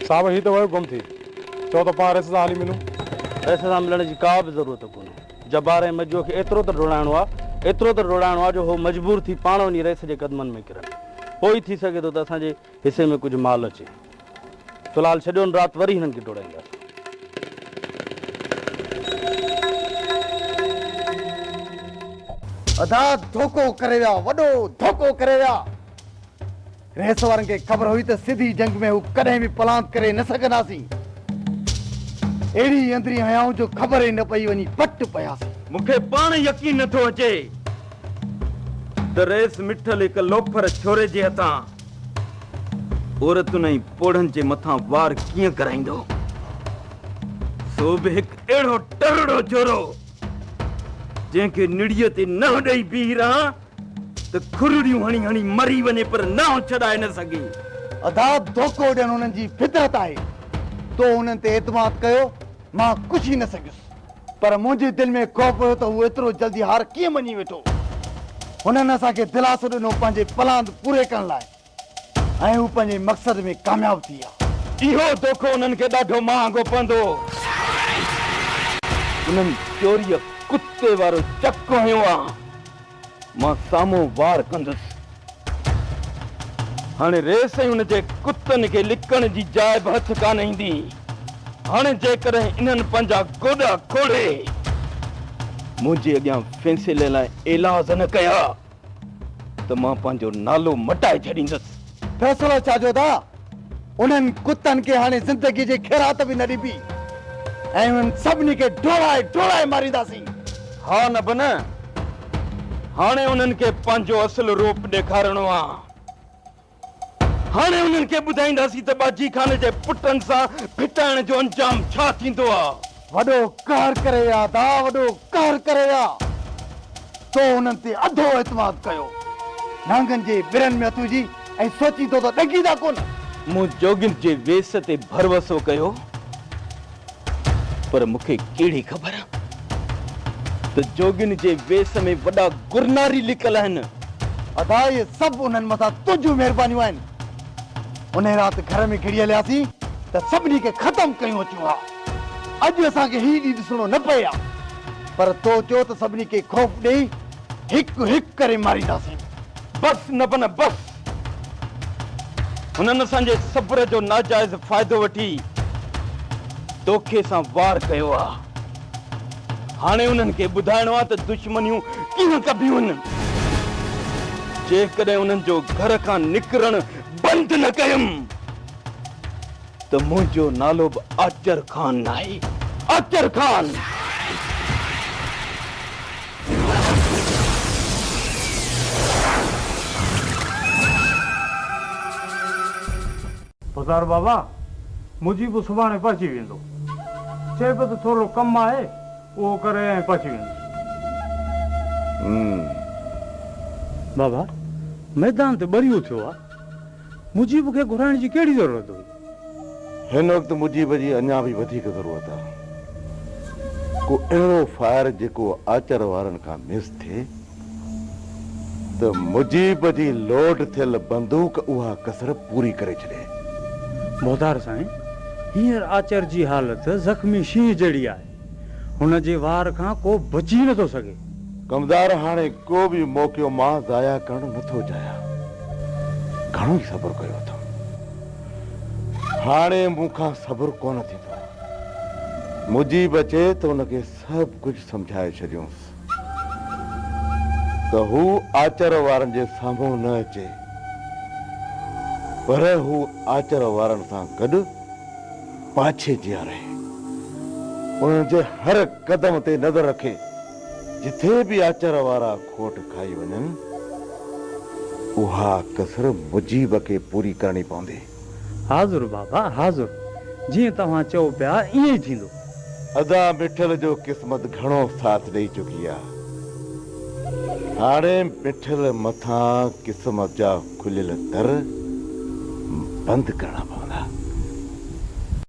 صاحب هي ته ويو گم ٿي. چئو ته پاڻ رئيس سان هلي ملون. رئيس سان ملڻ جي ڪا به ضرورت ڪونهي. جبار ۽ مجوء کي ايترو ته ڊوڙائڻو آ، ايترو ته ڊوڙائڻو آ جو هو مجبور ٿي پاڻ وڃي رئيس جي قدمن ۾ ڪرن. پوء ئي ٿي سگهي ٿو ته اسان جي حصي ۾ ڪجهه مال اچي. في الحال ڇڏيو ان رات وري هنن کي ڊوڙائينداسين. ادا ڌوڪو ڪري ويا وڏو ڌوڪو ڪري ويا. ريس وارن کي خبر هئي ته سڌي جنگ ۾ هو ڪڏهن به پلانت ڪري نه سگهنداسين. اهڙي اندرين هنيائون جو خبر ئي نه پئي وڃي پٽ پياسين. مون کي پاڻ يقين نه ٿو اچي ته ريس مٺل هڪ لوفر ڇوري جي هٿان عورتن ۽ پوڙهن جي مٿان وار ڪيئن ڪرائيندو؟ سو به هڪ اهڙو ٽرڙو جورو، جنهن کي نڙيء تي ننهن ڏئي بيهي رهان ته کرڙيون هڻي هڻي مري وڃي پر ننهن ڇڏائي نه سگهي. ادا ڌوڪو ڏيڻ هنن جي فطرت آهي. تو هنن تي اعتماد ڪيو، مان ڪجهه ئي نه سگهيس. پر منهنجي دل ۾ خوف هيو ته هو ايترو جلدي هار ڪيئن مڃي ويٺو. هنن اسان کي دلاسو ڏنو پنهنجي پلاند پوري ڪرڻ لاء ۽ هو پنهنجي مقصد ۾ ڪامياب ٿي ويا. اهو دوکو هنن کي ڏاڍو مهانگو پوندو هو. هنن چوريء ڪتي وارو چڪ هنيو ها. مان سامهون وار ڪندس. هاڻي ريس ۽ ان جي ڪتن کي لڪڻ جي جاء به هٿ ڪانه ايندي. هاڻي جيڪڏهن انهن پنهنجا گوڏا کوڙي منهنجي اڳيان فيصلي لاء ايلاز نه ڪيا ته مان پنهنجو نالو مٽائي ڇڏيندس. فيصلو ڇا جو دا؟ انهن ڪتن کي هاڻي زندگيء جي خيرات به نه ڏبي ۽ انهن سڀني کي ڊوڙائي ڊوڙائي مارينداسين. ها نه به نه، هاڻي انهن کي پنهنجو اصل روپ ڏيکارڻو آ. هاڻي انهن کي ٻڌائينداسين ته ٻاجهي خان جي پٽن سان ڦٽائڻ جو انجام ڇا ٿيندو آ. وڏو قهر ڪري ويا ادا وڏو قهر ڪري ويا تو انهن تي اڌو اعتماد ڪيو نانگن جي ٻرن ۾ اٿو جي ۽ سوچين ٿو ته ڏنگيندا ڪونه. مون جوڳين جي ويس تي ڀروسو ڪيو پر مون کي ڪهڙي خبر ته جوڳين جي ويس ۾ وڏا گرناري لڪل آهن. ادا اهي سڀ انهن مٿان تنهنجون مهربانيون آهن انهي رات گهر ۾ گهڙي هلياسين ته سڀني کي ختم ڪيون اچون ها. اڄ اسان کي هي ڏينهن ڏسڻو نه پئي ها پر تو چيو ته سڀني کي خوف ڏيئي هڪ هڪ ڪري مارينداسين. بس نبنه بس. هنن اسان جي صبر جو ناجائز فائدو وٺي دوکي سان وار ڪيو ها. هاڻي انهن کي ٻڌائڻو ها ته دشمنيون ڪيئن ڪبيون. جيڪڏهن انهن جو گهر کان نڪرڻ بند نه ڪيم. ته منهنجو نالو به آچر خان ناهي، آچر خان! پڌار بابا، منهنجي به سڀاڻي پهچي ويندو. چئي پيو ته ٿورو ڪم آهي، اهو ڪري ۽ پهچي ويندس. بابا، ميدان تي ٻريو ٿيو آهي. مجيب کي گهرائڻ جي ڪهڙي ضرورت هئي؟ هن وقت مجيب جي اڃا به وڌيڪ ضرورت آ. ڪو اهڙو فائر جيڪو آچر وارن کان مس ٿئي ته مجيب جي لوڊ ٿيل بندوق اها ڪسر پوري ڪري ڇڏي. مختار سائين، هينئر آچر جي حالت زخمي شينهن جهڙي آهي. هن جي وار کان ڪو بچي نٿو سگهي. ڪمدار هاڻي ڪو به موقعو مان ضايع ڪرڻ نٿو چاهيان. گهڻو ئي صبر ڪيو اٿم. هاڻي مون کان صبر ڪونه ٿيندو. مجيب اچي ته ان کي سڀ ڪجهه سمجهائي ڇڏيونس. ته هو آچر وارن جي سامهون نه اچي، پر هو آچر وارن سان گڏ پاڇي جيان رهي، انهن جي هر قدم تي نظر رکي، جتي به آچر وارا کوٽ کائي وڃن، اها ڪسر مجيب کي پوري ڪرڻي پوندي. حاضر بابا حاضر، جيئن توهان چئو پيا ائين ئي ٿيندو. ادا مٺل جو قسمت گهڻو ساٿ ڏئي چڪي آ هاڻي مٺل مٿان قسمت جا کليل در بند ڪرڻا پوندا.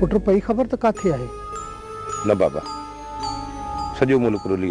پٽ پئي خبر ته ڪاٿي آهي؟ نه بابا سڄو ملڪ رلي آيو.